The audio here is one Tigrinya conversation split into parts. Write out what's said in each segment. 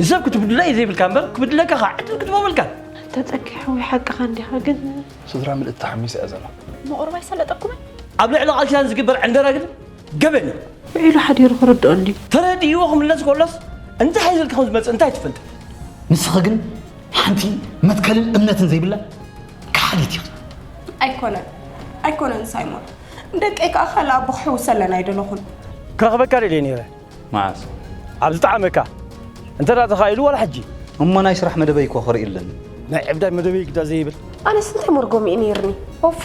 ንሰብ ክትብድሎ እዩ ዘይብልካ እምበር ክብድለካ ከዓ ዕድል ክትበበልካ ተፀኪሖ ወይ ሓቅኻ እንዲኻ ግን ስድራ ምልእቲ ተሓሚሰ እያ ዘላ ምቑርባይ ሰለጠኩምን ኣብ ልዕሊ ቃል ኪዳን ዝግበር ዕንደራ ግን ገበን እዩ። ውዒሉ ሓዲሩ ክርድኦ እንድዩ። ተረዲእዎ ክምለስ ከሎስ እንታይ ሒዙ ከም ዝመጽእ እንታይ ትፈልጥ? ንስኺ ግን ሓንቲ መትከልን እምነትን ዘይብላ ከሓዲት ኢኺ። ኣይኮነን ኣይኮነን ሳይሞን፣ ንደቀይ ከዓ ካልእ ኣቦ ክሕውሰለን ኣይደለኹን። ክረኽበካ ደልየ ነይረ። መዓስ? ኣብ ዝጠዓመካ እንተ ተኻኢሉ ዋላ ሕጂ። እሞ ናይ ስራሕ መደበይ እኮ ክርኢ ኣለኒ። ናይ ዕብዳይ መደበይ ግዳ ዘይብል። ኣነስ እንታይ መርጎም እዩ ነይርኒ ኦፋ።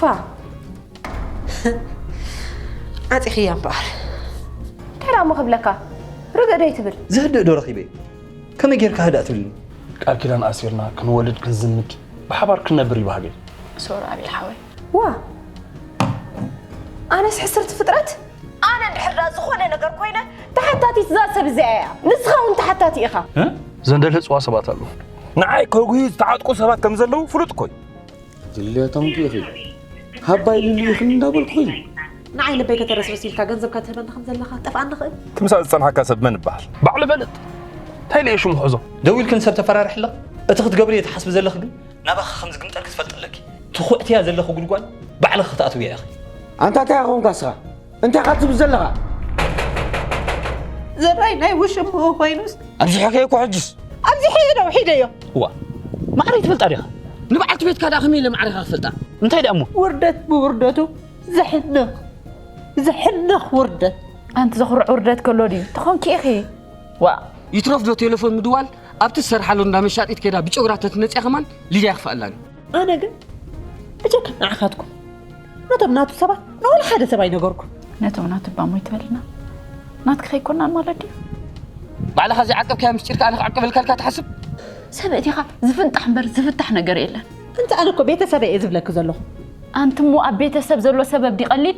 ዓፂኽያ እምበኣር እንታይ እሞ ክብለካ ርግእ ዶ ይትብል ዝህድእ ዶ ረኺበ ከመይ ጌርካ ህዳእ ትብልኒ ቃል ኪዳን ኣሲርና ክንወልድ ክንዝምድ ብሓባር ክንነብር እዩ ባህገይ ሶር ኣብይ ሓወይ ዋ ኣነስ ሕስርቲ ፍጥረት ኣነ እንድሕር ዳ ዝኾነ ነገር ኮይነ ተሓታቲት እዛ ሰብ እዚኣ እያ ንስኻ እውን ተሓታቲ ኢኻ ዘንደልህፅዋ ሰባት ኣለዉ ንዓይ ከጉዩ ዝተዓጥቁ ሰባት ከም ዘለዉ ፍሉጥ እኮ እዩ ድልዮቶም ኢኺ ሃባ ኢሉሉ ኢኽን እንዳበልኩ ኢዩ ንዓይ ልበይ ከተረስርስ ኢልካ ገንዘብካ ትህበኒ ከም ዘለኻ ጠፍኣኒ ንኽእል ትምሳእ ዝጸንሓካ ሰብ መን ይበሃል ባዕሉ ይፈልጥ እንታይ ለየ ሽሙ ሕዞ ደው ኢልክን ሰብ ተፈራርሒ ኣለኽ እቲ ክትገብርዮ ትሓስቢ ዘለኺ ግን ናባኺ ከም ዝግምጠልኪ ትፈልጢ ኣለኪ ትኹዕትያ ዘለኺ ጉድጓድ ባዕልኺ ክትኣትውያ ኢኺ ኣንታ እንታይ ኢኻ ኮንካ እስኻ እንታይ ኢኻ ትብል ዘለኻ? ዘራይ ናይ ውሽምኡ ኮይኑስ ኣብዚ ሕከይ እኮ ሕጅስ ኣብዚ ሕየ ዶ ሒደዮ እዋ ማዕረይ ትፈልጣ ዲኻ? ንበዓልቲ ቤትካ ደኣ ከመይ ኢለ ማዕረኻ ክፈልጣ? እንታይ ደኣ እሞ ውርደት ብውርደቱ ዘሕንኽ ዘሕንኽ ውርደት ኣንቲ ዘኹርዕ ውርደት ከሎ ድዩ ተኾንኪ ኢኺ ዋእ ይትረፍ ዶ ቴለፎን ምድዋል ኣብቲ ዝሰርሓሉ እንዳ መሻጢት ከይዳ ብጨጉራ ተትመፅያ ከማን ሊድያ ክፋኣላን እዩ ኣነ ግን እጀካ ንዓኻትኩም ነቶም ናቱ ሰባት ንወላ ሓደ ሰብ ኣይነገርኩ ነቶም ናቱ ባሞ ይትበልና ናትክ ከይኮና ማለት ድዩ ባዕልኻ ዘይዓቀብካዮ ምስጢር ከኣ ንክዕቅበልካልካ ትሓስብ ሰብ እቲኻ ዝፍንጣሕ እምበር ዝፍታሕ ነገር የለን እንተ ኣነ እኮ ቤተሰበ እየ ዝብለኪ ዘለኹ ኣንቲ እሞ ኣብ ቤተሰብ ዘሎ ሰበብ ዲ ቀሊል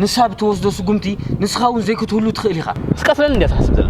ንሳ ብትወስዶ ስጉምቲ ንስኻ እውን ዘይክትህሉ ትኽእል ኢኻ ስቀትለኒ እንዲያ ትሓስብ ዘላ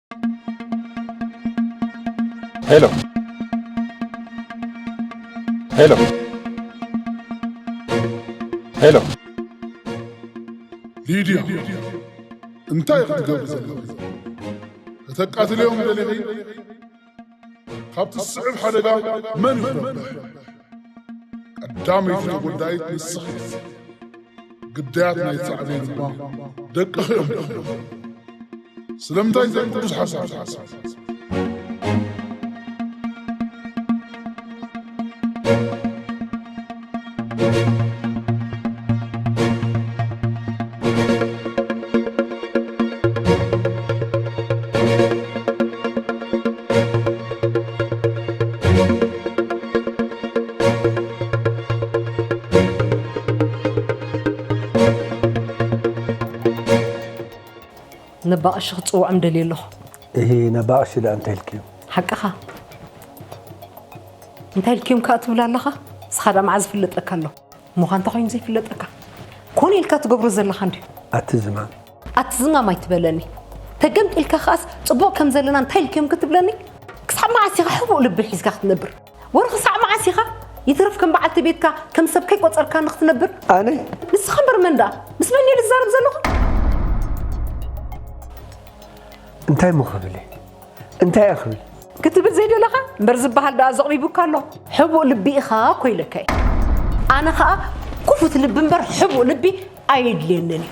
ሄሎ ሄሎ ሄሎ ሊድያ እንታይ ኢኺ ትገብሪ ዘለኺ ከተቃትልዮም ደሊኺ ካብቲ ዝስዕብ ሓደጋ መን ይኹን ቀዳመይቲ ተጎዳኢት ንስኺ ግዳያት ናይ ጻዕበይ ድማ ደቅኺ እዮም ደኽሞ ስለምንታይ ዘይ ቅዱስ ሓሳብ ሓሳብ ነባቐሺ ክትፅውዖም ደልየ ኣለኹ እሂ ነባቕሺ ድኣ እንታይ ኢልክዮ ሓቅኻ እንታይ ኢልክዮም ከዓ ትብል ኣለኻ ንስኻ ድኣ መዓዝ ዝፍለጠካ ኣሎ እሞኻ እንተኮይኑ ዘይፍለጠካ ኮነ ኢልካ ትገብሮ ዘለኻ እንድዩ ኣቲ ዝማም ኣቲ ዝማም ኣይትበለኒ ተገምጢልካ ከኣስ ጽቡቕ ከም ዘለና እንታይ ኢልክዮም ክትብለኒ ክሳብ መዓስ ኢኻ ሕቡእ ልቢ ሒዝካ ክትነብር ወረ ክሳዕ መዓስ ኢኻ ይትረፍ ከም በዓልቲ ቤትካ ከም ሰብ ከይቆጸርካ ንክትነብር ኣነ ንስኻ እምበር መን ደኣ ምስ መን እየ ዝዛረብ ዘለኹ እንታይ እሞ ክብል እየ እንታይ እየ ክብል ክትብል ዘይደለኻ እምበር ዝበሃል ደኣ ዘቕሪቡካ ኣሎ ሕቡእ ልቢ ኢኻ እኮ ኢለካ እዩ ኣነ ከዓ ኩፉት ልቢ እምበር ሕቡእ ልቢ ኣየድልየንን እዩ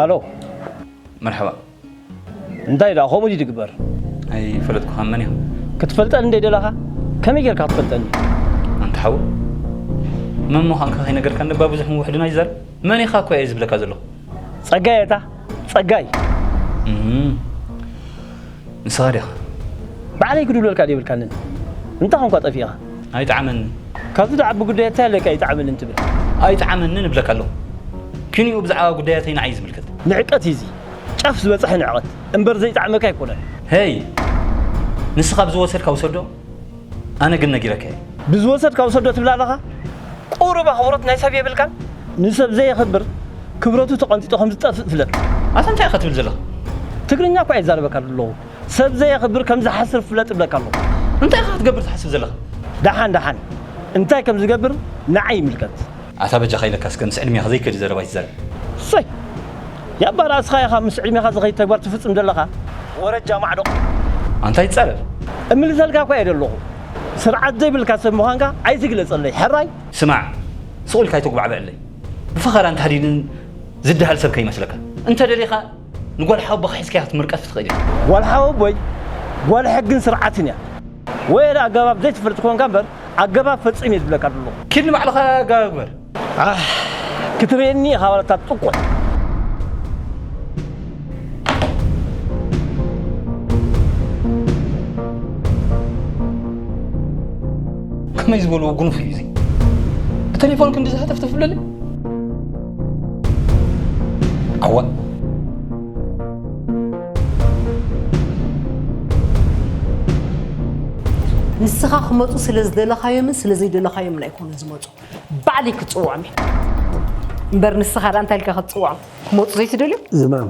ኣሎ መርሓባ እንታይ ደኣ ከምኡ ድዩ ዝግበር ኣይፈለጥኩኻ መን እዮም ክትፈልጠኒ እንደ ደላኻ ከመይ ጌርካ ክትፈልጠኒ ኣንተ ሓው መን ምዃንካ ከይነገርካ ንባ ብዙሕ ምውሕድና ይዛረብ መን ኢኻ እኮ እየ ዝብለካ ዘለኹ ጸጋይ እታ ጸጋይ ንስኻ ዲኻ? ባዕለይ ክድውለልካ ዘይብልካንን እንታይ ኮንካ ጠፊእኻ? ኣይጥዓመንን። ካብዚ ደኣ ዓቢ ጉዳያት እንታይ ኣለካ ኣይጥዓመንን ትብል? ኣይጥዓመንን እብለካ ኣለኹ። ክንዩ ብዛዕባ ጉዳያተይ ንዓይ ዝምልከት። ንዕቀት እዩ እዚ። ጫፍ ዝበጸሐ ንዕቐት እምበር ዘይጥዓመካ ኣይኮነን። ሄይ! ንስኻ ብዝወሰድካ ውሰዶ። ኣነ ግን ነጊረካ እየ ብዝወሰድካ ውሰዶ ትብል ኣለኻ ቁሩብ ኣኽብሮት ናይ ሰብ የብልካን ንሰብ ዘየኽብር ክብረቱ ተቐንጢጦ ከም ዝጠፍእ ፍለጥ ኣታ እንታይ ኢኻ ትብል ዘለኻ ትግርኛ እኳ ይዛረበካ ኣለኹ ሰብ ዘየኽብር ከም ዝሓስር ፍለጥ እብለካ ኣለኹ እንታይ ኢኻ ክትገብር ትሓስብ ዘለኻ ደሓን ደሓን እንታይ ከም ዝገብር ንዓይ ይምልከት ኣታ በጃኻ ኢለካ እስከ ምስ ዕድሜኻ ዘይከድ ዘረባ ኣይትዛረብ። ሰይ ያባ ራእስኻ ኢኻ ምስ ዕድሜኻ ዝኸይድ ተግባር ትፍጽም ዘለኻ ወረጃ ማዕዶቕ። ኣንታ ይጻረር። እምልሰልካ እኳ እየ ደለኹ ስርዓት ዘይብልካ ሰብ ምዃንካ ኣይትግለጸለይ ሕራይ። ስማዕ ሱቕ ኢልካ ኣይተጉባዕብዐለይ ብፈኸራን ታህዲድን ዝደሃል ሰብ ከይመስለካ። እንተ ደሊኻ ንጓል ሓወቦኻ ሒዝካያ ክትምርቀፍ ትኽእል ኢኻ። ጓል ሓወቦይ ጓል ሕግን ስርዓትን እያ። ወይ ዳኣ ኣገባብ ዘይትፈልጥ ኮንካ እምበር ኣገባብ ፈጺም እየ ዝብለካ ዘለኹ። ኪድ ንባዕልኻ ኣገባብ ግበር። ዓሕ ክትርእየኒ ኢኻ ዋላ እታ ጥቁዕ። ከመይ ዝበልዎ ጉኑፍ እዩ እዚ ብተሌፎን ክንዲ ዝሃተፍተፍ ብለለ ኣዋእ ንስኻ ክመፁ ስለ ዝደለኻዮምን ስለ ዘይደለኻዮምን ኣይኮኑን ዝመፁ ባዕለይ ክፅውዖም እየ እምበር ንስኻ ዳ እንታይ ኢልካ ክትፅውዖም ክመፁ ዘይትደልዮም ዝማም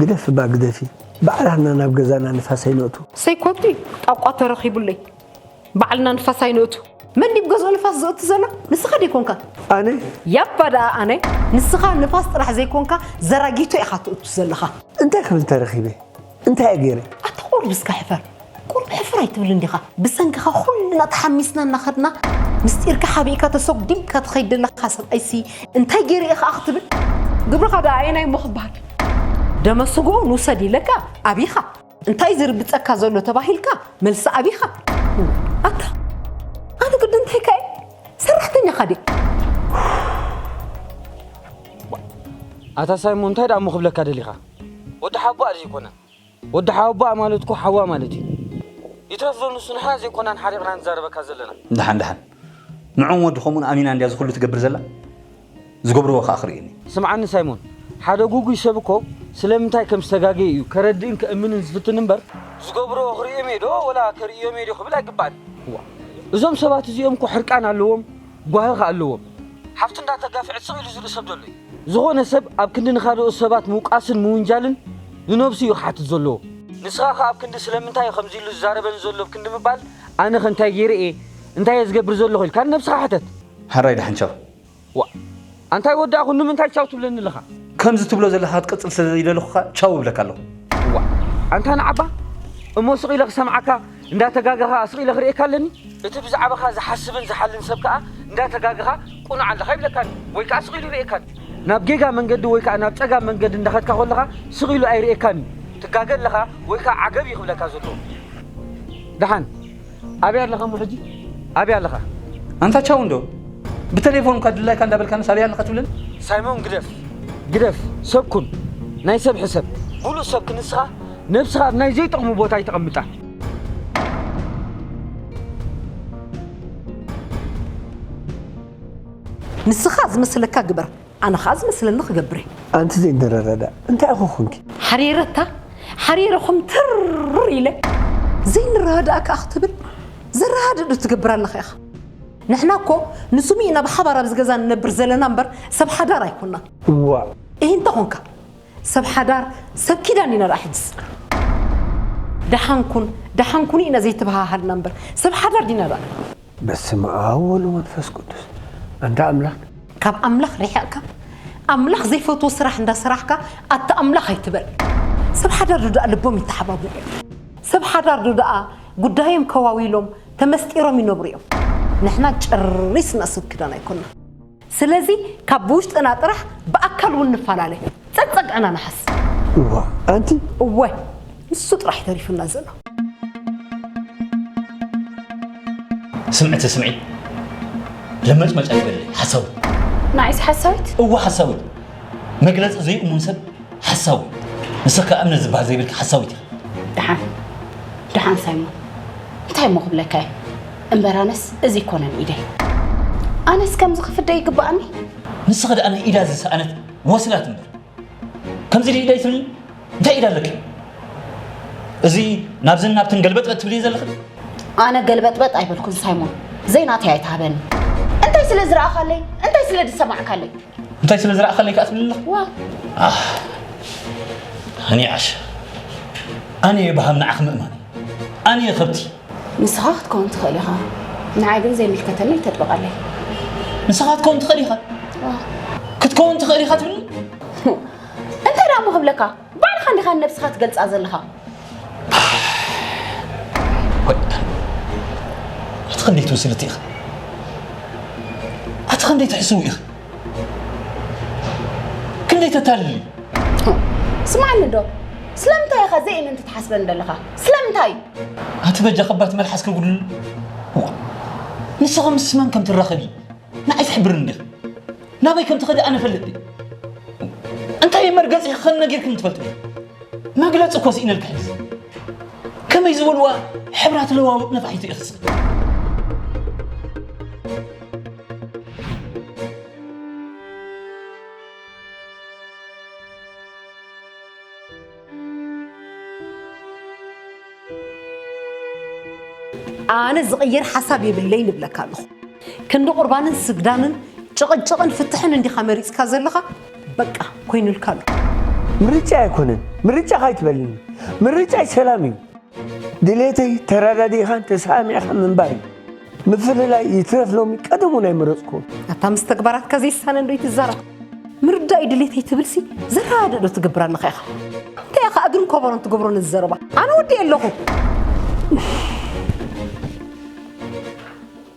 ግደፍ እባ ግደፊ ባዕላትና ናብ ገዛና ንፋሰይ ነእቱ ሰይኮቲ ጣቋ ተረኺቡለይ ባዕልና ንፋስ ኣይንእቱ። መን ድዩ ገዝኡ ንፋስ ዘእቱ ዘሎ? ንስኻ ደይኮንካ? ኣነ? ያባ ደኣ ኣነ። ንስኻ ንፋስ ጥራሕ ዘይኮንካ ዘራጊቶ ኢኻ ትእቱ ዘለኻ። እንታይ ክብል ተረኺበ? እንታይ እየ ገይረ? ኣታ ቁሩብ እስከ ሕፈር። ቁሩብ ሕፍር ኣይትብልን ዲኻ? ብሰንክኻ ኩልና ተሓሚስና እናኸድና ምስጢርካ ሓቢእካ ተሰጒምካ ትኸይድ ዘለኻ ሰብኣይሲ እንታይ ገይረ እየ ኸኣ ክትብል? ግብርኻ ደኣ ኣየናይ እሞ ክበሃል? ደመ ስግኡ ንውሰድ ኢለካ ኣብይካ? እንታይ ዝርግፀካ ዘሎ ተባሂልካ መልሲ ኣቢኻ ኣታ ኣነ ግዲ እንታይ ከ ሰራሕተኛ ካዲ ኣታ ሳይሞ እንታይ ደኣ እሞ ክብለካ ደሊኻ ወዲ ሓቦኣ ዘይኮነ ወዲ ሓቦኣ ማለት እኮ ሓዋ ማለት እዩ ይትረፍ ዶ ንሱ ንሕና ዘይኮናን ሓሪቕና ንዛረበካ ዘለና ድሓን ድሓን ንዑም ወዲ ከምኡን ኣሚና እንድያ ዝኹሉ ትገብር ዘላ ዝገብርዎ ከኣ ክርእዩኒ። ስምዓኒ ሳይሞን፣ ሓደ ግጉይ ሰብ እኮ ስለምንታይ ከም ዝተጋገየ እዩ ከረድእን ከእምንን ዝፍትን እምበር፣ ዝገብርዎ ክርእዮም'የ ዶ ወላ ከርእዮም'የ ዶ ክብል ኣይግባእን። እዋእ እዞም ሰባት እዚኦም እኮ ሕርቃን ኣለዎም ጓሂ ከኣ ኣለዎም። ሓፍቱ እንዳ ተጋፍዐት ስቕ ኢሉ ዝርኢ ሰብ ዶ ኣሎ'ዩ? ዝኾነ ሰብ ኣብ ክንዲ ንኻልኦት ሰባት ምውቃስን ምውንጃልን ንነብሱ እዩ ክሓትት ዘለዎ። ንስኻ ከኣ ኣብ ክንዲ ስለምንታይ እዩ ከምዚ ኢሉ ዝዛረበኒ ዘሎ ኣብ ክንዲ ምባል ኣነኸ እንታይ ጌረ እየ እንታይ'የ ዝገብር ዘለኹ ኢልካ ንነብስኻ ሕተት። ሕራይ ዳሕንቸው፣ ዋእ ኣንታይ ወድኣ ኩን ንምንታይ ቻው ትብለኒ ኣለኻ? ከምዚ ትብሎ ዘለኻ ክትቅጽል ስለ ዘይደለኹካ ቻው እብለካ ኣለኹ። ዋእ ኣንታ ንዓ'ባ እሞ ስቕ ኢለ ክሰምዓካ እንዳ ተጋገኻ ስቕ ኢለ ክርእየካ ኣለኒ። እቲ ብዛዕባኻ ዝሓስብን ዝሓልን ሰብ ከኣ እንዳ ተጋገኻ ቁኑዕ ኣለኻ ይብለካን ወይ ከኣ ስቕ ኢሉ ይርእየካን። ናብ ጌጋ መንገዲ ወይ ከኣ ናብ ጸጋም መንገዲ እንዳ ከድካ ኮለኻ ስቕ ኢሉ ኣይርእየካን እዩ። ትጋገ ኣለኻ ወይ ከኣ ዓገብ እዩ ክብለካ ዘለዎ። ደሓን። ኣበይ ኣለኻ እሞ ሕጂ ኣበይ ኣለኻ? ኣንታ ቻው እንዶ ብተሌፎን እኳ ድላይካ እንዳበልካንስ ኣበይ ኣለኻ ትብለኒ? ሳይሞን ግደፍ ግደፍ ሰብ ኩን ናይ ሰብ ሕሰብ ብሉጽ ሰብ ክንስኻ ነብስኻ ኣብ ናይ ዘይጠቕሙ ቦታ ኣይተቐምጣ። ንስኻ ዝመስለካ ግበር። ኣነ ኸኣ ዝመስለኒ ክገብር እየ። ኣንቲ ዘይንረዳዳእ እንታይ ኢኹ ኹንኪ? ሓሪረታ ሓሪረ ኹምትር ኢለ። ዘይንረዳዳእ ከኣ ክትብል ዘረዳድእ ዶ ትገብር ኣለኻ ኢኻ? ንሕና እኮ ንስሙ ኢና ብሓባር ኣብዚ ገዛ ንነብር ዘለና እምበር ሰብ ሓዳር ኣይኮናን። እዋእ! እሂ እንተ ኾንካ ሰብ ሓዳር ሰብ ኪዳን ኢና ደኣ ሕጅስ። ደሓን ኩን ደሓን ኩኒ ኢና ዘይተበሃሃልና እምበር ሰብ ሓዳር ዲና ደኣ? በስመ ኣብ ወልድ መንፈስ ቅዱስ ኣንዳ ኣምላክ። ካብ ኣምላኽ ሪሕቕካ ኣምላኽ ዘይፈትዎ ስራሕ እንዳ ሰራሕካ ኣታ ኣምላኽ ኣይትበል ሰብ ሓዳር ዶ ድኣ ልቦም ይተሓባበል እዩ ሰብ ሓዳር ዶ ድኣ ጉዳዮም ከዋዊሎም ተመስጢሮም ይነብሩ እዮም ንሕና ጨሪስና ሰብ ክዳን ኣይኮናን ስለዚ ካብ ብውሽጥና ጥራሕ ብኣካል ውን ንፋላለ ጸግጸግዕና ንሓስ። እዋ ኣንቲ። እወ ንሱ ጥራሕ ዩ ተሪፉና ዘሎ። ስምዒ ተስምዒ ለመጭመጭ ኣይበለይ ሓሳዊት። ንዓይሲ ሓሳዊት? እወ ሓሳዊት መግለጺ ዘይእሙን ሰብ ሓሳዊ ንስኺ ከኣ እምነት ዝበሃል ዘይብልኪ ሓሳዊት ኢኺ። ደሓን ደሓን ሳይሞን እንታይ እሞ ክብለካ እየ። እምበር ኣነስ እዚ ይኮነን ኢደይ ኣነስ ከምዚ ክፍደ ይግባኣኒ ንስኺ ደኣ ንኢዳ ዝሰኣነት ወስላት እምበር ከምዚ ድኢ ኢደይ ትብሊ እንታይ ኢዳ ኣለኪ እዚ ናብዝን ናብትን ገልበጥበጥ ትብሊ ዘለኺ ኣነ ገልበጥበጥ ኣይበልኩን ሳይሞን ዘይናተይ ኣይትሃበኒ እንታይ ስለ ዝረኣኻለይ እንታይ ስለ ዝሰማዕካለይ እንታይ ስለ ዝረኣኻለይ ከዓ ትብሊ ኣለኹ ዋ ኣነ ዓሽ ኣነ የባሃም ንዓኺ ምእማን ኣነ ከብቲ ንስኻ ክትከውን ትኽእል ኢኻ፣ ንዓይ ግን ዘይምልከተኒ ኣይተጥብቐለይ። ንስኻ ክትከውን ትኽእል ኢኻ? ክትከውን ትኽእል ኢኻ ትብልኒ? እንታይ ደኣ እሞ ክብለካ፣ ባዕልኻ እንዲኻ ንነብስኻ ትገልጻ ዘለኻ። ኣቲ ክንደይ ትብስልቲ ኢኺ? ኣቲ ክንደይ ትሕስዊ ኢኺ? ክንደይ ተታልሊ ስማዕኒ ዶ ስለምንታይ ኢኻ ዘይእምንቲ ትሓስበኒ ዘለኻ ስለምንታይ ኣቲ በጃ ከባት መልሓስ ከጉድል ንስኻ ምስ መን ከም ትራኸቢ ንዓይ ትሕብርኒ ዲኽ ናበይ ከም ትኸዲ ኣነ ፈልጥ እንታይ መርገፂ ክኸን ነጊርክም ትፈልጥ መግለፂ እኮ ስኢነልካ ሕዚ ከመይ ዝበልዋ ሕብራት ለዋውጥ ነፋሒቱ ይኽስብ ኣነ ዝቕይር ሓሳብ የብለይ ንብለካ ኣለኹ ክንዲ ቁርባንን ስግዳንን ጭቕጭቕን ፍትሕን እንዲኻ መሪፅካ ዘለኻ በቃ ኮይኑልካ ኣሎ ምርጫ ኣይኮነን ምርጫ ካይትበልኒ ምርጫይ ሰላም እዩ ድሌተይ ተረዳዲእኻን ተሰማሚዕኻን ምንባር እዩ። ምፍልላይ ይትረፍ ሎሚ ቀደም እውን ኣይመረፅኩዎን። ኣታ ምስ ተግባራትካ ዘይሳነ እንዶ ይትዛረብ ምርዳእ እዩ ድሌተይ ትብልሲ ዘረዳእ ዶ ትገብር ኣለኻ ኢኻ እንታይ ኢኻ እግርን ኮቦሮን ትገብሮ ነዚ ዘረባ ኣነ ወዲኤ ኣለኹ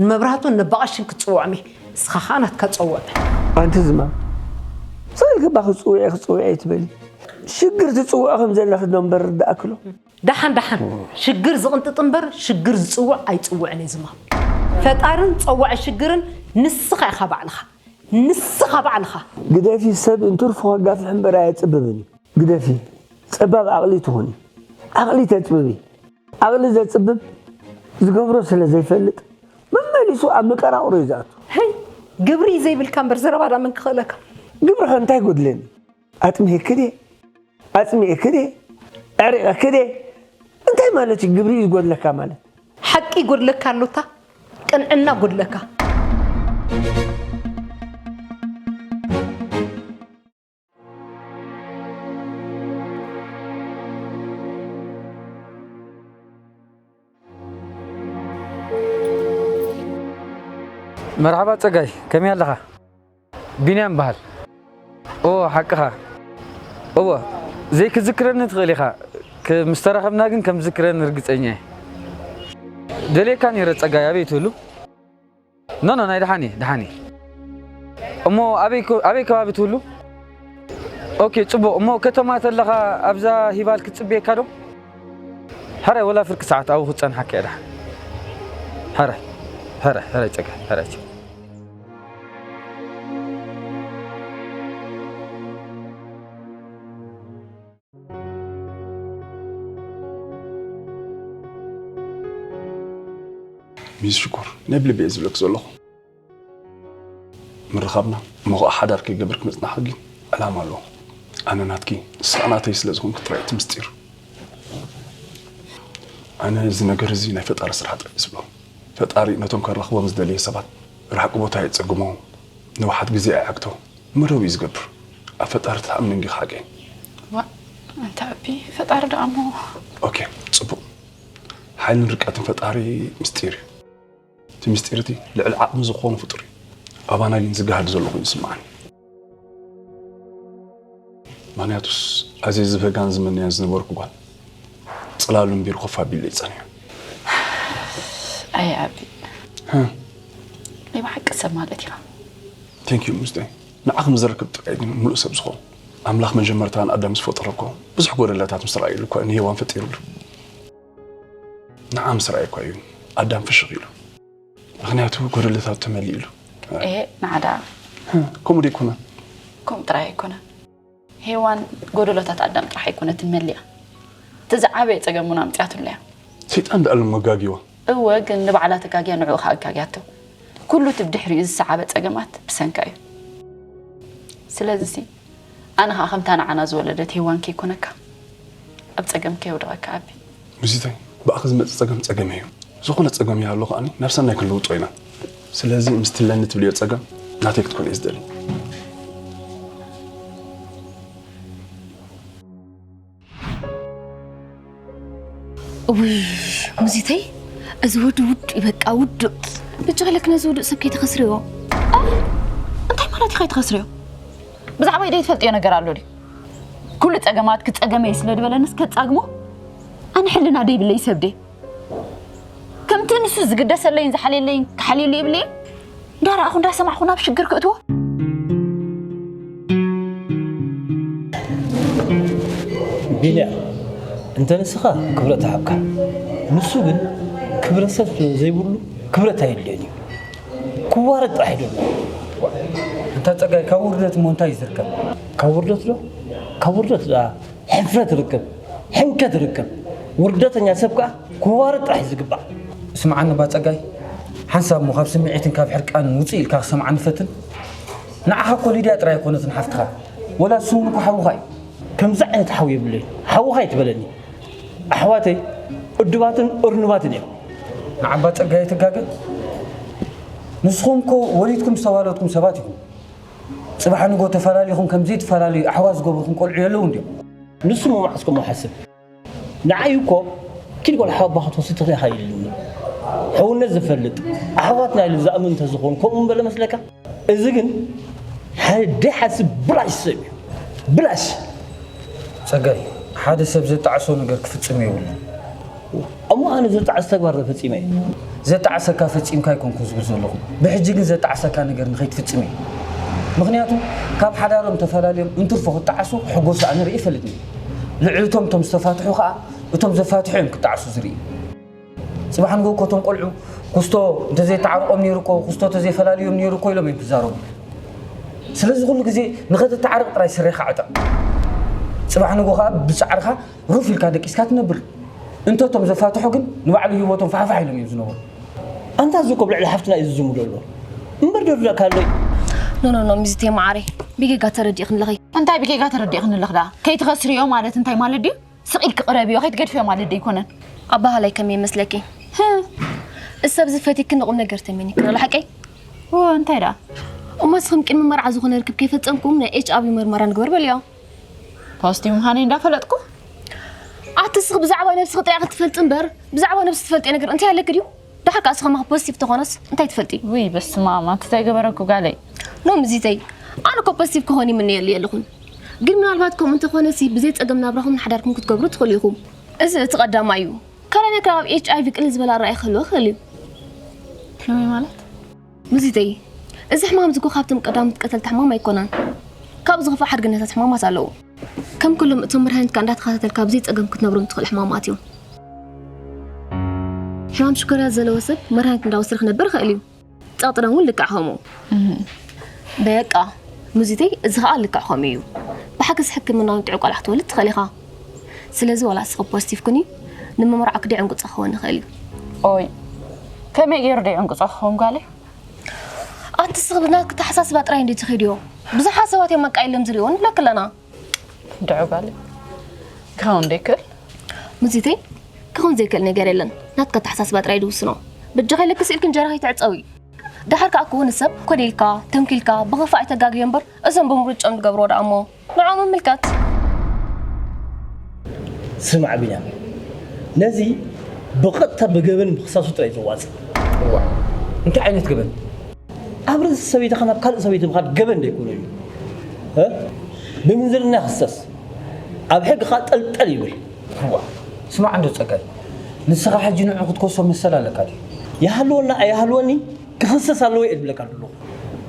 ንመብራህቱን ነባቐሽን ክጽውዖም እየ፣ ንስኻ ኸኣ ናትካ ጸውዕ። ኣንቲ ዝማም፣ ስቕ ኢልኪ እባ ክጽውዒ ክጽውዒ ኣይትበሊ። ሽግር ትጽውዒ ከም ዘለኺ ዶ እምበር ርዳእክሎ። ደሓን ደሓን፣ ሽግር ዝቕንጥጥ እምበር ሽግር ዝጽውዕ ኣይጽውዕን እየ ዝማም። ፈጣርን ጸዋዒ ሽግርን ንስኻ ኢኻ ባዕልኻ። ንስኻ ባዕልኻ። ግደፊ፣ ሰብ እንትርፎ ከጋፍሕ እምበር ኣየጽብብን እዩ። ግደፊ፣ ጸባብ ዓቕሊ ትኹኒ። ዓቕሊ ተጽብቢ። ዓቕሊ ዘጽብብ ዝገብሮ ስለ ዘይፈልጥ መመሊሱ ኣብ መቀራቕሮ እዩ ዝኣቱ። ህይ ግብሪ ዘይብልካ እምበር ዘረባ ዳመን ክኽእለካ። ግብሪ ከ እንታይ ጎድለኒ ኣጥሚየኪ ድየ ኣጽሚኤኪ ድየ ኣዕሪቐኪ ድየ እንታይ ማለት እዩ ግብሪ እዩ ዝጎድለካ ማለት ሓቂ ይጎድለካ ኣሎታ ቅንዕና ጎድለካ መርሓባ ፀጋይ ከመይ ኣለኻ? ቢንያም በሃል። ኦ ሓቅኻ እወ ዘይክዝክረኒ ትኽእል ኢኻ ምስ ተራኸብና ግን ከም ዝዝክረኒ ርግፀኛ እየ። ደልየካ ነይረ ፀጋይ ኣበይ ትህሉ? ኖ ኖ ናይ ደሓን እየ ደሓን እየ እሞ ኣበይ ኮ- ኣበይ ከባቢ ትህሉ ኦኬ ፅቡቕ እሞ ከተማ ተለኻ ኣብዛ ሂባል ክትፅብየካ ዶ ሕራይ ወላ ፍርቂ ሰዓት ኣብኡ ክትፀንሓካ እየ ደሓን ሕራይ ሕራይ ሕራይ ፀጋ ሕራይ ፀጋ ሚስ ሽኮር ናይ ብልቢ እየ ዝብለክ ዘለኹ ምርኻብና እሞ ከዓ ሓዳር ከይገበርክ ምፅናሕክ ግን ዕላማ ኣለዎ ኣነ ናትኪ ንስኻ ናተይ ስለ ዝኾንክ ጥራይ እቲ ምስጢር ኣነ እዚ ነገር እዚ ናይ ፈጣሪ ስራሕ ጥራይ ዝብሎ ፈጣሪ ነቶም ከራኽቦም ዝደለየ ሰባት ርሕቂ ቦታ የፀግሞ ንውሓት ግዜ ኣይዓግቶ መደብ እዩ ዝገብር ኣብ ፈጣሪ ትኣምን ዲኻ ሓቀይ ዋእ ኣንታ ኣቢ ፈጣሪ ደኣ እሞ ኦኬ ጽቡቕ ሓይልን ርቀትን ፈጣሪ ምስጢር እዩ እቲ ምስጢር እቲ ልዕሊ ዓቕሚ ዝኾኑ ፍጡር እዩ ኣባና ግን ዝጋሃድ ዘሎ ኮይኑ ይስምዓኒ ምክንያቱስ ኣዜ ዝበጋን ዝምንያ ዝነበርኩ ጓል ፅላሉ እምቢር ኮፍ ኣቢለይ ፀኒሑ ኣይ ኣቢ ናይ ብሓቂ ሰብ ማለት ኢና ቴንክ ዩ ምስጠይ ንዓኽ ንዝረክብ ጥራይ ግን ሙሉእ ሰብ ዝኾን ኣምላኽ መጀመርታ ንኣዳም ምስ ፈጠሮ እኮ ብዙሕ ጎደለታት ምስ ረኣየሉ እኳ ንሄዋን ፈጢሩሉ ንዓ ምስ ረኣየ እኳ እዩ ኣዳም ፍሽኽ ኢሉ ምክንያቱ ጎደለታቱ ተመሊኡ ኢሉ ኤሄ ናዓዳ ከምኡ ዶ ኣይኮነን ከምኡ ጥራይ ኣይኮነን ሄዋን ጎደሎታት ኣዳም ጥራሕ ኣይኮነትን መሊኣ እቲ ዝዓበየ ፀገም እውን ኣምፅኣትሉ እያ ሰይጣን ደኣ እሞ ኣጋጊዋ እወ ግን ንባዕላ ተጋግያ ንዕኡ ከዓ ኣጋግያቶ ኩሉ እቲ ብድሕሪኡ ዝሰዓበ ፀገማት ብሰንካ እዩ ስለዚ ኣነ ከኣ ከምታ ንዓና ዝወለደት ሄዋን ከይኮነካ ኣብ ጸገም ከየውድቀካ ኣቢ። ሙዚተይ ብኣኺ ዝመጽእ ጸገም ጸገመይ እዩ ዝኾነ ጸገም ይሃሉ ከኣ ናብ ሰናይ ክንልውጦ ኢና ስለዚ ምስቲ ኣለኒ ትብልዮ ጸገም ናተይ ክትኮን እየ ዝደሊ። እውይ ሙዚተይ እዚ ወዲ ውድ እዩ በቃ ውዱእ ብቻ ለክ ነዚ ውዱእ ሰብ ከይተኸስርዮ እንታይ ማለት እዩ ከይተኸስርዮ ብዛዕባ ኢደይ ትፈልጥዮ ነገር ኣሎ ድዩ ኩሉ ፀገማት ክፀገመ እዩ ስለ ዝበለንስ ከፃግሞ ኣነ ሕልና ደይብለይ ሰብ ድየ ከምቲ ንሱ ዝግደሰለይን ዝሓልየለይን ክሓልየሉ ይብለይን እንዳረኣኹ እንዳሰማዕኹ ናብ ሽግር ክእትዎ ቢልያ እንተ ንስኻ ክብረት ሃብካ ንሱ ግን ክብረ ሰብ ስለ ዘይብሉ ክብረት ኣየድልዮን እዩ ክዋረድ ጥራሕ እዩ ደሎ እንታ ፀጋይ ካብ ውርደት እሞ እንታይ ዝርከብ ካብ ውርደት ዶ ካብ ውርደት ደኣ ሕፍረት ርክብ፣ ሕንከት ርክብ፣ ውርደተኛ ሰብ ከኣ ክዋረድ ጥራሕ እዩ ዝግባእ። ስምዓኒ እባ ጸጋይ፣ ሓንሳብ እሞ ካብ ስምዒትን ካብ ሕርቃንን ውጽእ ኢልካ ክሰምዓኒ ፈትን። ንዓኻ እኮ ሊድያ ጥራይ ኣይኮነትን ሓፍትኻ፣ ወላ ስውን እኮ ሓውኻ እዩ። ከምዚ ዓይነት ሓው የብለይን፣ ሓውኻ ኣይትበለኒ። ኣሕዋተይ እዱባትን እርኑባትን እዮም። ንዓባ ጸጋይ ኣይትጋገ፣ ንስኹም እኮ ወሊድኩም ዝተዋለድኩም ሰባት ኢኹም። ጽባሕ ንጎ ተፈላሊኹም ከም ዘይትፈላለዩ ኣሕዋት ዝገብሩኹም ቆልዑ የለውን ድዮም? ንሱ እሞ መዓስ ከምኡ ሓስብ ንዓይ እኮ ኪድ ቆልዓ ኣባኻ ክትወስድ ትኽእል ኢኻ ኢሉኒ። ሕውነት ዝፈልጥ ኣሕዋትና ኢሉ ዝኣምን እንተዝኸውን ከምኡ ምበለ መስለካ? እዚ ግን ሓደ ደይሓስብ ብላሽ ሰብ እዩ። ብላሽ! ጸጋይ፣ ሓደ ሰብ ዘጣዕሶ ነገር ክፍጽም የብሉን። እሞ ኣነ ዘጣዕስ ተግባር ዘፈጺመ እየ። ዘጣዕሰካ ፈጺምካ ኣይኮንኩን ዝብል ዘለኹ። ብሕጂ ግን ዘጣዕሰካ ነገር ንኸይትፍጽም እየ። ምኽንያቱ ካብ ሓዳሮም ተፈላልዮም እንትርፎ ክጣዓሱ ሕጎሱ ኣነ ርእየ ኣይፈልጥን። ልዕሊ እቶም እቶም ዝተፋትሑ ከኣ እቶም ዘፋትሑ እዮም ክጣዕሱ ዝርኢ። ጽባሕ ንግሆ እኮ እቶም ቆልዑ ኩስቶ እንተዘየተዓርቆም ነይሩ እኮ ኩስቶ እንተዘይፈላልዮም ነይሩ እኮ ኢሎም እዮም ክዛረቡ። ስለዚ ኩሉ ግዜ ንኸተተዓርቕ ጥራይ ስሬኻ ዕጠቕ። ጽባሕ ንግሆ ከኣ ብጻዕርኻ ሩፍ ኢልካ ደቂስካ ትነብር እንተ እቶም ዘፋትሑ ግን ንባዕሉ ሂወቶም ፋሕፋሕ ኢሎም እዮም ዝነበሩ ኣንታ እዚ እኮ ኣብ ልዕሊ ሓፍትና እዩ ዝዝሙ ዘሎ እምበር ደርዳእካ ኣሎ ኖ ኖ ኖ ሚዝቴ ማዓረይ ብጌጋ ተረዲእክንለኺ እንታይ ብጌጋ ተረዲእክንለኽ ደኣ ከይትኸስርዮ ማለት እንታይ ማለት ድዩ ስቕ ኢልኪ ቅረብዮ ከይትገድፍዮ ማለት ዶ ኣይኮነን ኣባሃላይ ከመይ መስለኪ እሰብ ዝፈትኪ ንቑም ነገር ተመኒክን ኣሎ ሓቀይ እንታይ ደኣ እሞ ንስኽም ቅድሚ መርዓ ዝኾነ ርክብ ከይፈፀምኩም ናይ ኤች ኣቢ መርመራ ንግበር በልዮ ፖስቲ ምዃነይ እንዳፈለጥኩ ኣቲ ስኽ ብዛዕባ ነብስኺ ጥራይ ክትፈልጢ እምበር ብዛዕባ ነብሲ ትፈልጢ ነገር እንታይ ኣለኪ ድዩ ድሓር ከዓ ስኸማ ፖዚቲቭ ተኾነስ እንታይ ትፈልጢ ውይ በስመ ኣብ ኣንቲ ዘይገበረኩ ጋለይ ኖም እዚተይ ኣነ እኮ ፖዚቲቭ ክኾን ይምነየሉ የለኹን ግን ምናልባት ከምኡ እንተኾነሲ ብዘይ ፀገም ናብራኹም ሓዳርኩም ክትገብሩ ትኽእሉ ኢኹም እዚ እቲ ቀዳማ እዩ ካልኣይ ነገር ኣብ ኤች ኣይቪ ቅልል ዝበለ ኣረኣይ ክህልዎ ክእል እዩ ሕልሚ ማለት ምዚተይ እዚ ሕማም እዚ እኮ ካብቶም ቀዳሞት ቀተልቲ ሕማም ኣይኮነን። ካብኡ ዝኸፍእ ሓድግነታት ሕማማት ኣለዉ። ከም ኩሎም እቶም መድሃኒትካ እንዳተኸታተልካ ብዘይ ጸገም ክትነብሮም ትኽእል ሕማማት እዮም። ሕማም ሽኮርያ ዘለዎ ሰብ መድሃኒት እንዳወሰደ ክነብር ይኽእል እዩ። ጸቕጢ ደም እውን ልክዕ ከምኡ። በቃ ምዚተይ እዚ ኸኣ ልክዕ ከምኡ እዩ። ብሓገዝ ሕክምናውን ጥዑይ ቆልዓ ክትወልድ ትኽእል ኢኻ። ስለዚ ዋላ እስኺ ፖስቲቭ ኩኒ ንመመርዓው ክደይ ዕንቅጾ ክኸውን ይኽእል እዩ? ኦይ ከመይ ገይሩ ደይ ዕንቅጾ ክኸውን ጓለይ? ኣንቲ እስኺ ብናትኪ ኣተሓሳስባ ጥራይ እንድዩ ትኺድዮ። ብዙሓት ሰባት እዮም መቃ ኢሎም ዝሪእዎ ንብለኪ ኣለና። ድዑ ጓለይ ክኸውን ደይክእል? ሙዚተይ ክኸውን ዘይክእል ነገር የለን ናትኪ ኣተሓሳስባ ጥራይ ድውስኖ። በጃኺ ልክስ ኢልኪ እንጀራ ከይትዕጸዊ። ደሓር ከኣ ክውን ሰብ ኮዲልካ ተንኪልካ ብኽፋእ ተጋግዮ እምበር እዞም ብምርጭኦም ድገብርዎ ደኣ እሞ ንዑ ምምልካት። ስማዕ ቢንያም፣ ነዚ ብቐጥታ ብገበን ምኽሳሱ ጥራይ ዘዋጽእ። እዋ፣ እንታይ ዓይነት ገበን? ኣብ ርእሲ ሰበይትኻ ናብ ካልእ ሰበይቲ ምኻድ ገበን ዶ ኣይኮነን እዩ? እ? ብምንዝርና ክሰስ፣ ኣብ ሕጊ ከኣ ጠልጠል ይብል። እዋ፣ ስማዕ እንዶ ጸጋይ፣ ንስኻ ሕጂ ንዑ ክትከሶ መሰል ኣለካ ድዩ? ይሃልወና ኣይሃልወኒ፣ ክኽሰስ ኣለዎ እየ ዝብለካ ዘለኹ።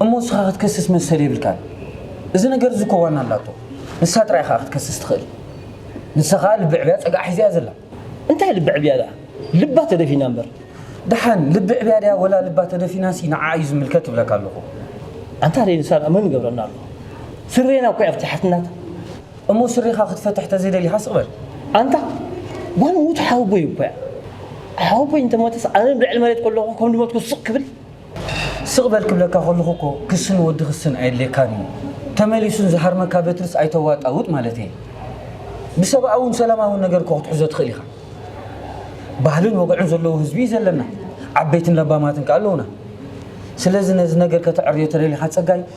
እሞ ንስኻ ክትከስስ መሰል የብልካን። እዚ ነገር እዚ እኮ ዋና ኣላቶ። ንሳ ጥራይ እያ ከኣ ክትከስስ ትኽእል። ንሳ ከኣ ልቢ ዕብያ ጸግዓ ሒዛ እያ ዘላ። እንታይ ልቢ ዕብያ ደኣ? ልባ ተደፊና እምበር። ደሓን ልቢ ዕብያ ድያ ወላ ልባ ተደፊናሲ ንዓኣ እዩ ዝምልከት እብለካ ኣለኹ። ኣንታ ደይ ንሳ ደኣ መን ይገብረና ኣሎ? ስሬና እኮ እያ ፍትሓትናታ። እሞ ስሪኻ ክትፈትሕ ተዘይደሊኻ ስቕ በል። ኣንታ ጓል ሙት ሓወቦይ እኮ እያ። ሓወቦይ እንተሞተስ ኣነ ኣብ ልዕሊ መሬት ከለኹ ከም ድመትኩ ስቕ ክብል? ስቕ በል ክብለካ ከለኹ እኮ ክስን ወዲ ክስን ኣየድልየካን እዩ። ተመሊሱን ዝሃርመካ በትርስ ኣይተዋጣውጥ ማለተይ እየ። ብሰብኣውን ሰላማውን ነገር እኮ ክትሕዞ ትኽእል ኢኻ። ባህልን ወግዕን ዘለዎ ህዝቢ እዩ ዘለና። ዓበይትን ለባማትን ከኣ ኣለዉና። ስለዚ ነዚ ነገር ከተዐርዮ ተደሊኻ ጸጋይ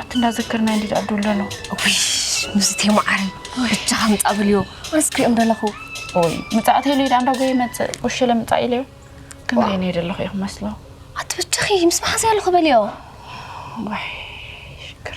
ኣትእንዳዘከርና እንዲ ድኣ ዶ ኣለኖ ምስቲ ማዓረ ብቻ ከምፃ ብልዮ ኣነስ ክሪኦም ደለኹ ወይ ምፃእት ኢሉ ኢዳ እንዳጎየ ይመፅእ ወሸለ ምፃእ ኢለዮ ከምዘይ ነይ ደለኹ ኢኹ መስሎ ኣቲ ብቻኺ ምስ መሓዘይ ኣለኹ በልዮ ወይ ሽግር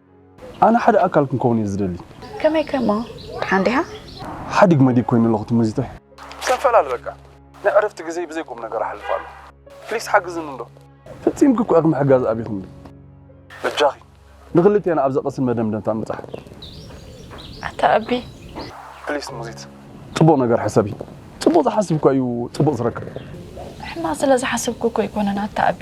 ኣነ ሓደ ኣካል ክንከውን እየ ዝደሊ። ከመይ ከ እሞ ድሓን ዲኻ? ሓዲግ መዲግ ኮይነ ኣለኹ እቲ ሙዚተይ። ክንፈላሊ በቃ ናይ ዕረፍቲ ግዜይ ብዘይ ቁም ነገር ኣሕልፍ ኣለኹ ፕሊስ ሓግዝኒ እንዶ። ፈጺምኪ እኮ ኢኺ ምሕጋዝ ኣቢኺ እንዶ። በጃኺ ንኽልቴና ኣብ ዘቐስን መደምደምታ ንብጻሕ። ኣታ ኣቢ። ፕሊስ ሙዚት ጽቡቕ ነገር ሕሰቢ ጽቡቕ ዝሓስብ እኳ እዩ ጽቡቕ ዝረክብ። ሕማቕ ስለ ዝሓሰብኩ እኮ ኣይኮነን ኣታ ኣቢ።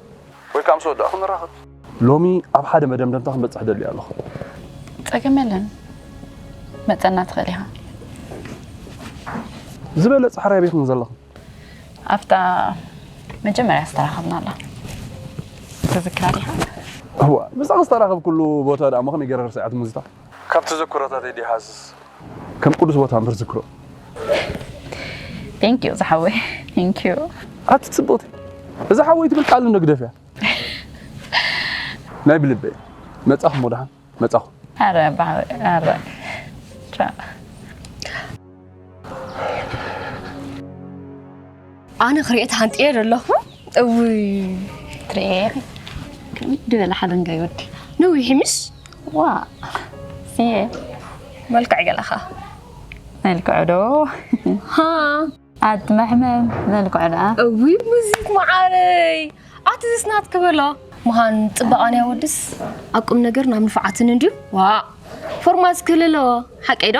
ወይ ከኣ ምስ ወዳእኩ ንራኸብ። ሎሚ ኣብ ሓደ መደምደምታ ክንበጽሕ እደሊ ኣሎኹ። ጸገም የለን። መጸና ትኽእል ኢኻ። ዝበለጸ ሕራይ ኣበይ ኢኹም ዘለኹም? ኣብታ መጀመርያ ዝተራኸብናላ ትዝክራ ዲኻ? እዋ፣ ምስኣ ዝተራኸብኩሉ ቦታ ደኣ'ሞ ከመይ ገይረ ክርስዓ ትምዝታ? ካብ ተዘክሮታተይ ዲኻስ ከም ቅዱስ ቦታ እምበር ዝክሮ ቴንክ ዩ ዝሓወይ ቴንክ ዩ ኣቲ ፅብቕቲ እዛ ሓወይ ትብል ቃል ንግደፍ እያ ናይ ብልበ መፃኹም ወድሓን መፃኹም ኣረ ኣረ ኣነ ክሪኤ ተሃንጥየ ዘለኹ እውይ ትሪኤ ከሚት ድበለ ሓለንጋ ይወዲ ነዊሕ ምስ ዋ ስየ መልክዕ ገለኻ መልክዑ ዶ ሃ ኣቲ መሕመም መልክዑ ደኣ እውይ ሙዚክ መዓረይ ኣቲ ዝስናት ክበሎ መሃን ፅባቐን ያወድስ ኣብ ቁም ነገር ናብ ንፍዓትን እንድዩ ዋ ፎርማት ክህልለዎ ሓቀይ ዶ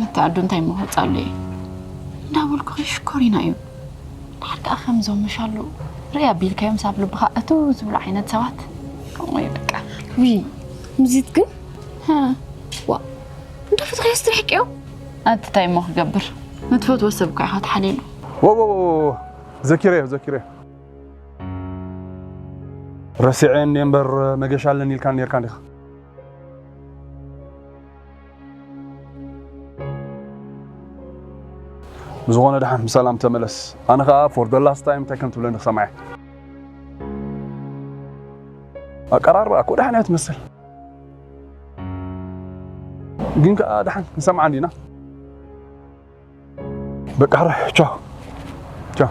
ነቲ ኣዱ እንታይ እሞ ክወፅኣሉ እየ እንዳበልኩ ከይሽኮሪና እዩ ድሓር ከዓ ከምዞም ምሻሉ ርእይ ኣቢልካዮም ሳብ ልብኻ እቱ ዝብሉ ዓይነት ሰባት ከምኡ እዩ በቃ ውይ ምዚት ግን ዋ እንዳፈትኸዮ ስትርሕቅዮ ኣቲ እንታይ እሞ ክገብር ንትፈትዎ ሰብ እኳ ኢኻ ተሓሊሉ ወወ ዘኪረዮ ዘኪረዮ ረሲዐ እንደ እምበር መገሻ ኣለኒ ኢልካ ነርካ እንዲኻ ብዝኾነ ድሓን ብሰላም ተመለስ ኣነ ከኣ ፎር ደ ላስት ታይም እንታይ ከም ትብለኒ ክሰምዓ እየ ኣቀራርባ እኮ ድሓን እያ ትመስል ግን ከኣ ድሓን ክንሰምዓ እንዲና በቃ ቻው ቻው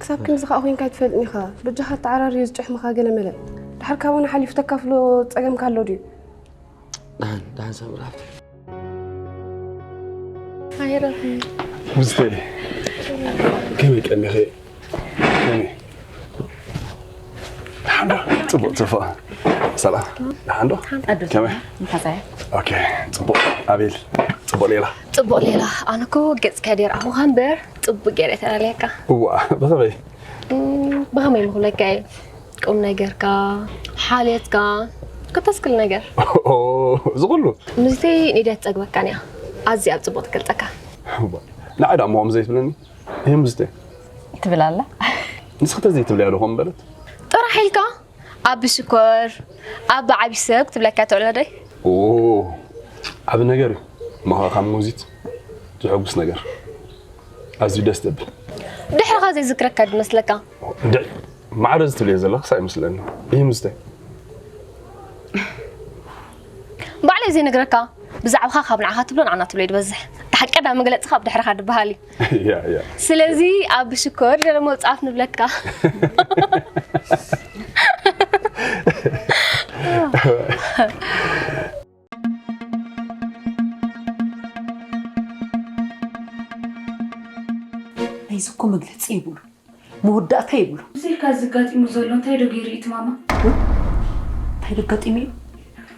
ክሳብ ክንዚ ከዓ ኮይንካ ኣይትፈልጥን ኢኻ በጃኻ ተዓራርዩ ዝጭሕምኻ ገለመለ ድሓር ካብኡና ሓሊፉ ተካፍሎ ፀገምካ ኣሎ ድዩ ዳን ዳን ሰምራ ኣይረፍን ምስተይ ከመይ ቀኒኺ ደሓንዶ ፅቡቅ ትፎእ ሰላም ደሓንዶ ከመይ ኦኬ ፅቡቅ ኣቤል ፅቡቅ ሌላ ፅቡቅ ሌላ ኣነ እኮ ገፅካ ደርኣኹኻ እምበር ፅቡቅ ገይረ ተላለየካ እዋ ብኸመይ ብኸመይ ምኽብለካ እየ ቁም ነገርካ ሓልየትካ ኮታስ ኩሉ ነገር እዚ ኩሉ ምስቲ ኒደት ፀግበካን እያ ኣዝያ ኣብ ፅቡቅ ትገልፀካ ንዓይ ዳሞ ከምዘይትብለኒ ህምዝተ ትብል ኣላ ንስኺ ተዘይ ትብልያ ዶ ከምበለት ጥራሕ ኢልካ ኣቢ ሽኮር ኣቢ ዓብዪ ሰብ ክትብለካ ትዕሎ ዶ ዓቢ ነገር እዩ እሞኸ ካብ ሞዚት ዝሕጉስ ነገር ኣዝዩ ደስ ዘብል ድሕርኻ ዘይዝክረካ ድመስለካ እንድዒ ማዕረ ዝትብልዮ ዘለኽስ ኣይመስለኒ ይህምዝተ ባዕለይ ዘይነግረካ ብዛዕባኻ ካብ ንዓኻ ትብሎ ንዓና ትብሎ እዩ ዝበዝሕ እቲ ሓቂ ዳ መግለፅኻ ኣብ ድሕርኻ ድበሃል እዩ ያ ያ ስለዚ ኣብ ሽኮር ደለ መውፃፍ ንብለካ ናይዚ እኮ መግለፂ የብሉን። መወዳእታ ይብሉ። እዚ ኢልካ እዚ ኣጋጢሙ ዘሎ እንታይ ዶ ገይሩ እዩ እቲ ማማ? እንታይ ዶ ኣጋጢሙ እዩ?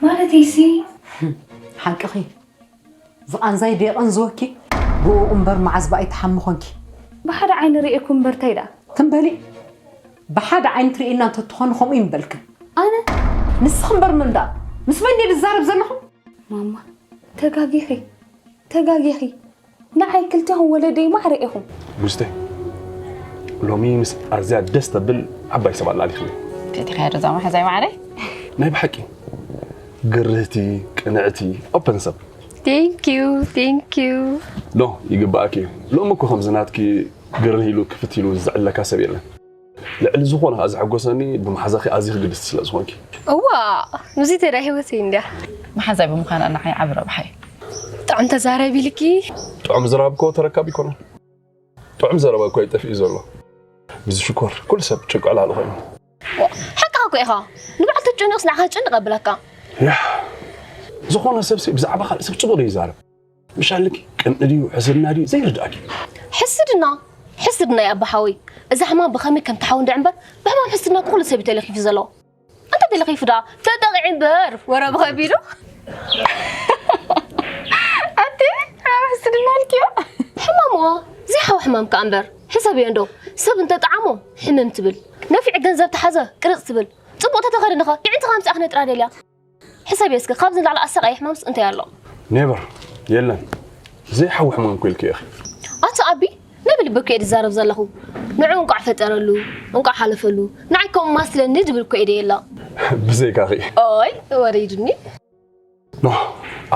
ማለተይ ሲ ሓቅኺ ዝቓንዛይ ዶ የቐንዝወኪ? ብእኡ እምበር መዓዝ ብኣይ ትሓሚ ኾንኪ? ብሓደ ዓይኒ ርእየኩም እምበር እንታይ ደኣ? ትም በሊ! ብሓደ ዓይኒ ትርእይና እንተ ትኾኒ ከምኡ እዩ ምበልክን። ኣነ? ንስኺ እምበር መን ደኣ? ምስ መን ድየ ዝዛረብ ዘለኹ? ማማ ተጋጊኺ ተጋጊኺ ንዓይ ክልቴኹም ወለደይ ማዕረ ኢኹም። ቡዝተይ ሎሚ ምስ ኣዝያ ደስ ተብል ዓባይ ሰብ ኣላሊኽኒ። ፈቲኻያ ዶ እዛ መሓዛይ ማዕረይ? ናይ ብሓቂ ግርህቲ፣ ቅንዕቲ፣ ኦፐን ሰብ። ቴንኪዩ ቴንኪዩ። ኖ ይግባኣኪ እዩ። ሎሚ እኮ ከምዚ ናትኪ ግርህ ኢሉ ክፍት ኢሉ ዝዕለካ ሰብ የለን። ልዕሊ ዝኾነ ከኣ ዘሐጎሰኒ ብመሓዛኺ ኣዚኺ ግድስቲ ስለ ዝኾንኪ። እዋእ ምስዚ ተዳ ህይወተይ እንድያ። መሓዛይ ብምዃና ንዓይ ዓቢ ረብሓ እዩ። ጥዑም ተዛራቢ ኢልኪ። ጥዑም ዝራብ እኮ ተረካቢ ይኮና። ጥዑም ዘረባ እኳ እዩ ጠፊኡ ዘሎ። ብዚ ሽኮር ኩሉ ሰብ ጭንቂ ዕላሉ ኮይኑ። ሓቅኻ እኮ ኢኻ ንባዕል ተጨንቕስ ንዓኻ ክጭንቕ ኣብላካ። ያህ ዝኾነ ሰብሲ ብዛዕባ ካልእ ሰብ ጽቡቕ ዶ ይዛረብ? ምሻልኪ ቅንኢ ድዩ ሕስድና ድዩ ዘይርድኣኪ ሕስድና ሕስድና ያ ኣባሓወይ እዛ ሕማም ብኸመይ ከም ትሓው እንድዕ እምበር ብሕማም ሕስድና ኩሉ ሰብ ተለኺፉ ዘሎ እንተ ተለኺፉ ደኣ ተጠቂዒ እምበር ወረ ብኸቢዱ ኣቲ ሕማም ሕስድና ልክዮ ሕማምዋ ዘይሓው ሕማም ከኣ እምበር ሕሰብዮ እንዶ ሰብ እንተ ጠዓሞ ሕምም ትብል ነፊዕ ገንዘብ ተሓዘ ቅርፅ ትብል ፅቡቕ ተተኸድንኸ ይዕንትኻ ምፅኣ ክነጥራ ደልያ ሕሰብዮ እስኪ ካብዚ ንላዕሊ ኣሰቃይ ሕማምስ እንታይ ኣሎ ኔቨር የለን ዘይሓዊ ሕማም ኮ ኢልኪ ኢኺ ኣቶ ኣቢ ናይ ብልቢ እኮ እየ ዝዛረብ ዘለኹ ንዑ እንቋዕ ፈጠረሉ እንቋዕ ሓለፈሉ ንዓይ ከምኡ ማስለኒ ድብል እኮ እየ ደየላ ብዘይካኺ ኦይ ወሪድኒ ኖ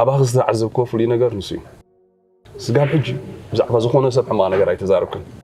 ኣባኺ ዝተዓዘብክዎ ፍሉይ ነገር ንሱ እዩ ስጋብ ሕጂ ብዛዕባ ዝኾነ ሰብ ሕማቕ ነገር ኣይተዛረብክን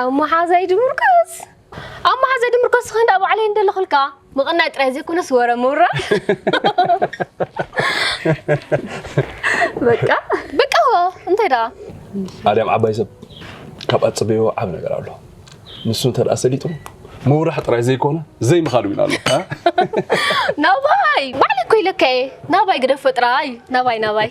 ኣብ መሓዛይ ድምርኮስ ኣብ መሓዛይ ድምርኮስ ኸ እንዳ ባዕለይ እንደለኹልካ ምቕናይ ጥራይ ዘይኮነስ ወረ ምውራ በቃ በቃ እንታይ ደኣ ኣድያም ዓባይ ሰብ ካብ ኣፅበዮ ዓብ ነገር ኣሎ ንሱ እንተ ደኣ ሰሊጡ ምውራሕ ጥራይ ዘይኮነ ዘይምኻድ እውን ኣሎ እ? ናባይ ባዕለይ እኮ ኢለካ እየ ናባይ ግደፎ ጥራይ ናባይ ናባይ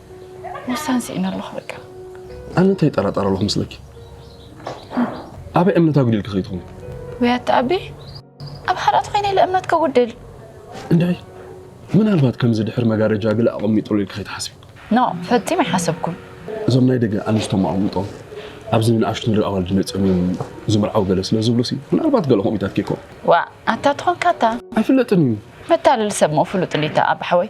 ወሳን ስኢነ ኣለኹ በቃ ኣነ እንታይ ይጠራጠር ኣለኹ ምስለኪ ኣበይ እምነት ኣጉዲልኪ ከይትኹን ወይ ኣተኣቢ ኣብ ሓራት ኮይነ ኢለ እምነት ከጉድል እንታይ ምናልባት ከምዚ ድሕሪ መጋረጃ ግለ ኣቐሚጡሉ ኢልኪ ከይትሓስቢ ኖ ፈፂም ኣይሓሰብኩም እዞም ናይ ደገ ኣንስቶም ኣቐምጦም ኣብዚ ንኣሽቱ ንርኢ ኣዋልድ መፅኦም እዮም ዝምርዓው ገለ ስለ ዝብሉ ሲ ምናልባት ገለ ከምኡታት ከይኮ ዋ ኣታ ትኾንካ ኣታ ኣይፍለጥን እዩ መታለሊ ሰብ ሞ ፍሉጥ ሊታ ኣብ ሓወይ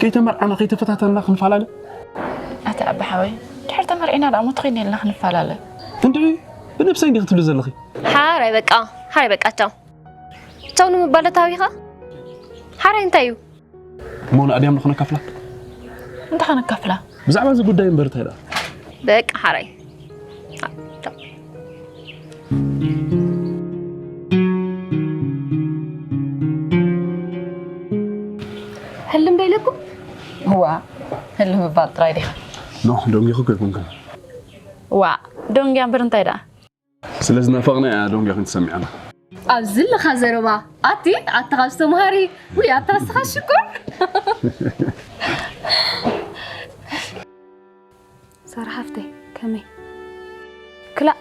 ከይተመርዓና ከይተፈታተንና ክንፈላለ? ኣቲ ኣቢ ሓወይ ድሕር ተመርዒና ደኣ ሞት ኮይነ ኢልና ክንፈላለ? እንድዒ ብነብሰይ እንዲ ክትብሊ ዘለኺ? ሓራይ በቃ ሓራይ በቃ ቻው ቻው ንምባል ዶ ተሃቢኻ? ሓራይ እንታይ እዩ? እሞ ንኣድያም ዶ ከነካፍላ? እንታይ ከነካፍላ? ብዛዕባ እዚ ጉዳይ እምበር እንታይ ደኣ? በቃ ሓራይ ህልም ዶ ኢለኩም ዋ ህልም ምባል ጥራይ ዲኻ ኖ ደንጊኹ ከይኮንክን ዋ ደንጊያ እምበር እንታይ ደኣ ስለ ዝናፈቕና እያ ደንጊኹን ትሰሚዓና ኣብዚ ለኻ ዘረባ ኣቲ ኣታ ካብ ዝተምሃሪ ውይ ኣታ ንስኻ ሽኮር ሳራ ሓፍተይ ከመይ ክላእ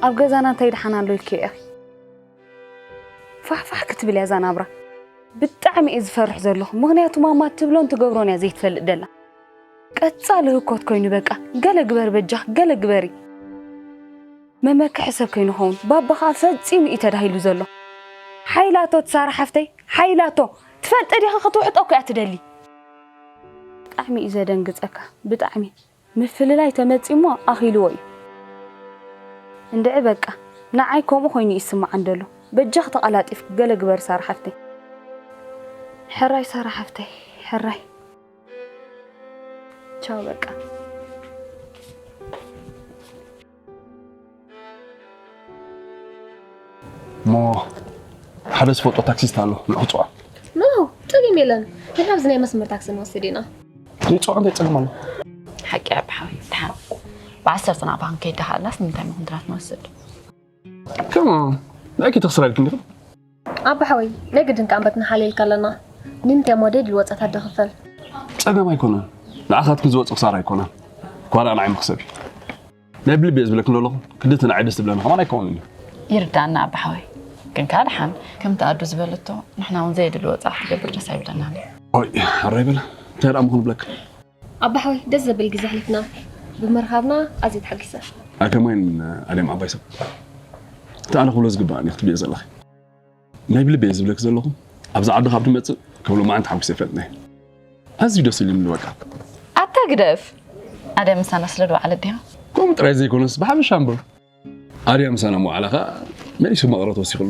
ኣብ ገዛና እንታይ ደሓን ኣሎ ኢልክዮ ኢኺ ፋሕፋሕ ክትብል እያ እዛ ናብራ ብጣዕሚ እየ ዝፈርሕ ዘለኹ ምክንያቱ ማማ እትብሎን ትገብሮን እያ ዘይትፈልጥ ደላ ቀፃሊ ህኮት ኮይኑ በቃ ገለ ግበር በጃኽ ገለ ግበሪ መመክሒ ሰብ ከይንኸውን ባባ ከዓ ፈፂሙ እዩ ተዳሂሉ ዘሎ ሓይላቶ ትሳራ ሓፍተይ ሓይላቶ ትፈልጢ ዲኺ ክትውሕጦ እኮ እያ ትደሊ ብጣዕሚ እዩ ዘደንግጸካ ብጣዕሚ ምፍልላይ ተመጺሞ ኣኺልዎ እዩ እንድዒ በቃ ንዓይ ከምኡ ኮይኑ እዩ ዝስምዓኒ ደሎ በጃኺ ተቓላጢፍኪ ገለ ግበሪ ሳራ ሓፍተይ ሕራይ ሳራ ሓፍተይ ሕራይ ቻው በቃ። እሞ ሓደ ዝፈልጦ ታክሲስት ኣሎ ንዕፅዋ ኖ ፀገም የለን ንሕና ኣብዚ ናይ መስመር ታክሲ ንወስድ ኢና ንዕፅዋ ክንደይ ፀገም ኣሎ ሓቂ ኣብ ሓዊ ተሓር ብዓሰርተ ናብ ባንክ ከይዳሃላስ ንምንታይ መኹንትራት ንወስድ ከማ ንዕኪ ተኽስራ ኢልክን ዲኹም ኣባ ሓወይ ናይ ግድን ከኣ እምበት ንሓልየልካ ኣለና ንምንታይ እሞ ደድሊ ወጻት ኣደ ክፈል። ጸገም ኣይኮነን ንዓኻትኪ ዝወጽእ ክሳራ ኣይኮነን ጓላ ንዓይ መኽሰብ እዩ ናይ ብልቢ እየ ዝብለኪ ዶለኹ ክንዲ እቲ ንዓይ ደስ ዝብለኒ ከማን ኣይከውንን እዩ ይርዳእና ኣባ ሓወይ ግን ከኣ ድሓን ከምቲ ኣዱ ዝበለቶ ንሕና እውን ዘየድሊ ወጻእ ክትገብር ደስ ኣይብለናን እዩ ኦይ ኣራይ በላ እንታይ ደኣ እሞ ክንብለኪ ኣባ ሓወይ ደስ ዘብል ግዜ ኣሕሊፍና ብምርኻብና ኣዝየ ተሓጊሰ። ኣከማይን ኣለም ዓባይ ሰብ እቲ ኣነ ክብሎ ዝግባእኒ ክትብልዮ ዘለኺ ናይ ብልበይ እየ ዝብለኪ ዘለኹ ኣብዚ ዓዲ ካብ ትመፅእ ከብሎ መዓን ተሓጒሰ ይፈልጥ ናይ ኣዝዩ ደስ ኢሉኒ በቃ ኣታ ግደፍ ኣድያ ምሳና ስለ ዝወዓለት ድያ ከምኡ ጥራይ ዘይኮነስ ብሓፈሻ እምበር ኣድያ ምሳና ምውዓላ ከዓ መሊሱ መቕረት ወሲኽሉ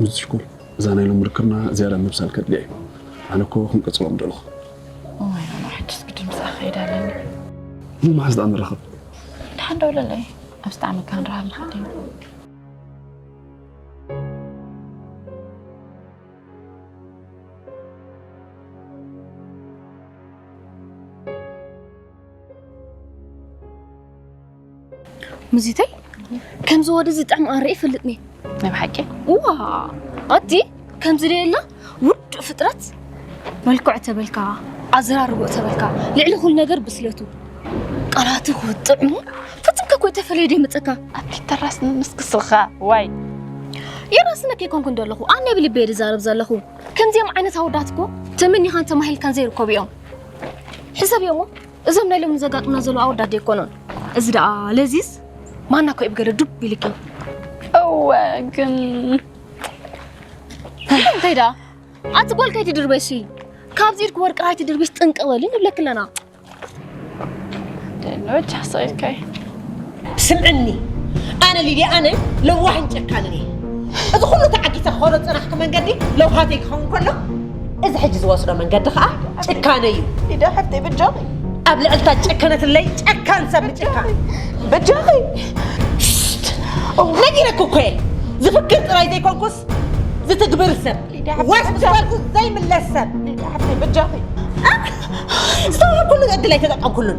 ምዝሽኩም እዛ ናይ ሎም ርክብና ዝያዳ ምብሳል ከድልያ እዩ ኣነ እኮ ክንቅፅሎ ምደለኹ ሕጅስ ግድን ብዛዕ ከይድ ኣለኒ ንመሓዝ ዳኣ ንራኸብ ንሓን ደውለለይ ኣብ ስጣዕሚ ካ ንረሃብ ንሓደ ሙዚተይ ከምዚ ወደዚ ጥዕም ኣንርኢ ይፈልጥኒ ናይ ብሓቂ እዋ ኣቲ ከምዚ ደየላ ውዱእ ፍጥረት መልክዑ ተበልካ ኣዘራርብኡ ተበልካ ልዕሊ ኩሉ ነገር ብስለቱ ቃላቱ ክውጥዕሙ ፍትንከ ኮይ ተፈለየ ደይ መፀካ ኣቲ ተራስ ምስክስልካ ዋይ የራስነ ከይኮንኩ እንደለኹ ኣነ ብልበ ዝዛረብ ዘለኹ ከምዚኦም ዓይነት ኣወዳት እኮ ተመኒኻን ተማሂልካን ዘይርከቡ እዮም ሕሰብ እዮሞ እዞም ናይ ሎሚ ዘጋጥሙና ዘለዉ ኣወዳት ዶ ኣይኮኑን? እዚ ደኣ ለዚስ ማና ኮይ ብገለ ዱብ ኢልኪ። እወ ግን እንታይ ደኣ ኣቲ ጓል ከይትድርበሺ ካብዚ ኢድኪ ወርቂ ኣይትድርብሽ ጥንቅቕ በሊ ንብለኪ ኣለና። ደሎ ቻሰይከይ ስምዕኒ ኣነ ሊድያ ኣነ ለዋህን ጨካንን እየ እዚ ኩሉ ተዓጊሰ ክኸዶ ዝፀናሕኩ መንገዲ ለውሃተይ ክኸውን ከሎ እዚ ሕጂ ዝወስዶ መንገዲ ከዓ ጭካነ እዩ ሊዳ ሓፍተይ ብጃኺ ኣብ ልዕልታ ጨከነትለይ ጨካን ሰብ ምጭካ ብጃኺ ነጊረክ እኮ እየ ዝፍክር ጥራይ ዘይኮንኩስ ዝትግብር ሰብ ዋስ ዝበልኩ ዘይምለስ ሰብ ሊዳ ሓፍተይ ብጃኺ ዝሰብኩሉ ዕድል ኣይተጠቀምኩሉን